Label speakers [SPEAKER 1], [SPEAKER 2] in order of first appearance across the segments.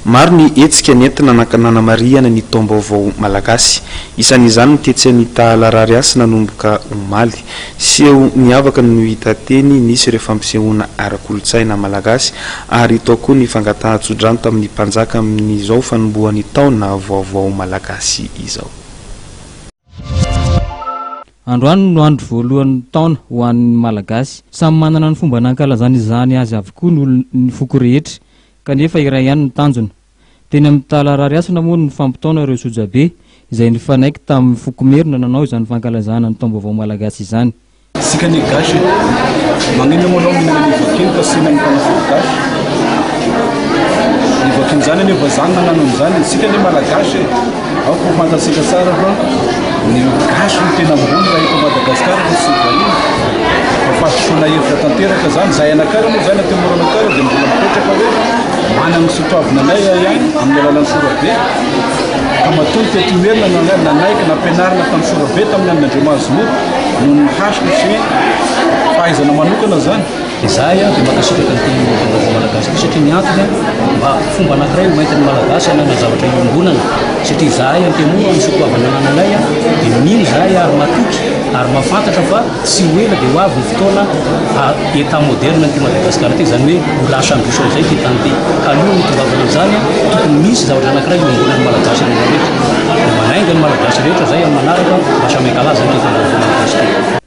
[SPEAKER 1] Maro ny hetsika nentina nanamarihana ny taom-baovao malagasy. Isan'izany ny tetsy Anitahalarariasy nanomboka omaly. Seho niavaka no hita teny, nisy ireo fampisehoana ara-kolontsaina malagasy ary tao koa ny fangatahan-tsodrano tamin'ny mpanjaka amin'izao fanombohan'ny taona vaovao malagasy izao.
[SPEAKER 2] Androany no andro voalohan'ny taona ho an'ny Malagasy. Samy manana ny fomba nankalazany izany azy avokoa ny foko rehetra. kanefa iray ihany ny tanjona. Teny amin'ny Tala Arariasina moa no nifampitaona ireo sojabe izay nifanaiky tamin'ny foko Merina nanao izany fankalazana ny taom-baovao malagasy izany. Isika anie gasy
[SPEAKER 3] e! Maninona moa anao mihinana an'io voaky io ka sina ny mpanafody gasy? Ny voakin'izany anie vazaha no nanano an'izany e! Isika anie malagasy e! Ao ko fantatsika tsara fa ny gasy no tena ambony raha eto Madagascar fa tsy vahiny. Fa fahasosoana hevitra tanteraka izany. Zahay anakara moa izany aty Moronakara dia mbola mipetraka hoe manana ny soatoavina anay ihany amin'ny alalan'ny sorabe. Ka matoa ny teto Imerina no angah nanaiky nampianarina tamin'ny sorabe tamin'ny andron'Andriamahazomoro noho ny hasiny sy fahaizana manokana izany. Dia izahay dia
[SPEAKER 4] mankasitraka ny Pays Européen vaovao Malagasy ity satria ny antony mba fomba anankiray hoentin'ny Malagasy hanana zavatra iombonana satria izahay Antemoro amin'ny soatoavina anananay dia mino izahay ary matoky ary mahafantatra fa tsy ho ela dia ho avy ny fotoana état moderne an'ity Madagasikara ity izany hoe ho lasa ambition izay ity tany ity ka aloha ny hitongavanao amin'izany tokony misy zavatra anankiray iombonan'ny Malagasy rehetra rehetra dia manainga ny Malagasy rehetra izay amin'ny manaraka mba samy hankalaza ny Pays Européen vaovao Malagasy ity.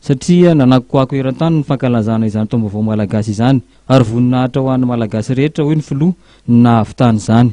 [SPEAKER 2] satria nanakoako eran-tany ny fankalazana izany taom-baovao malagasy izany ary voninahitra ho an'ny Malagasy rehetra, hoy ny filoha nahavitana izany.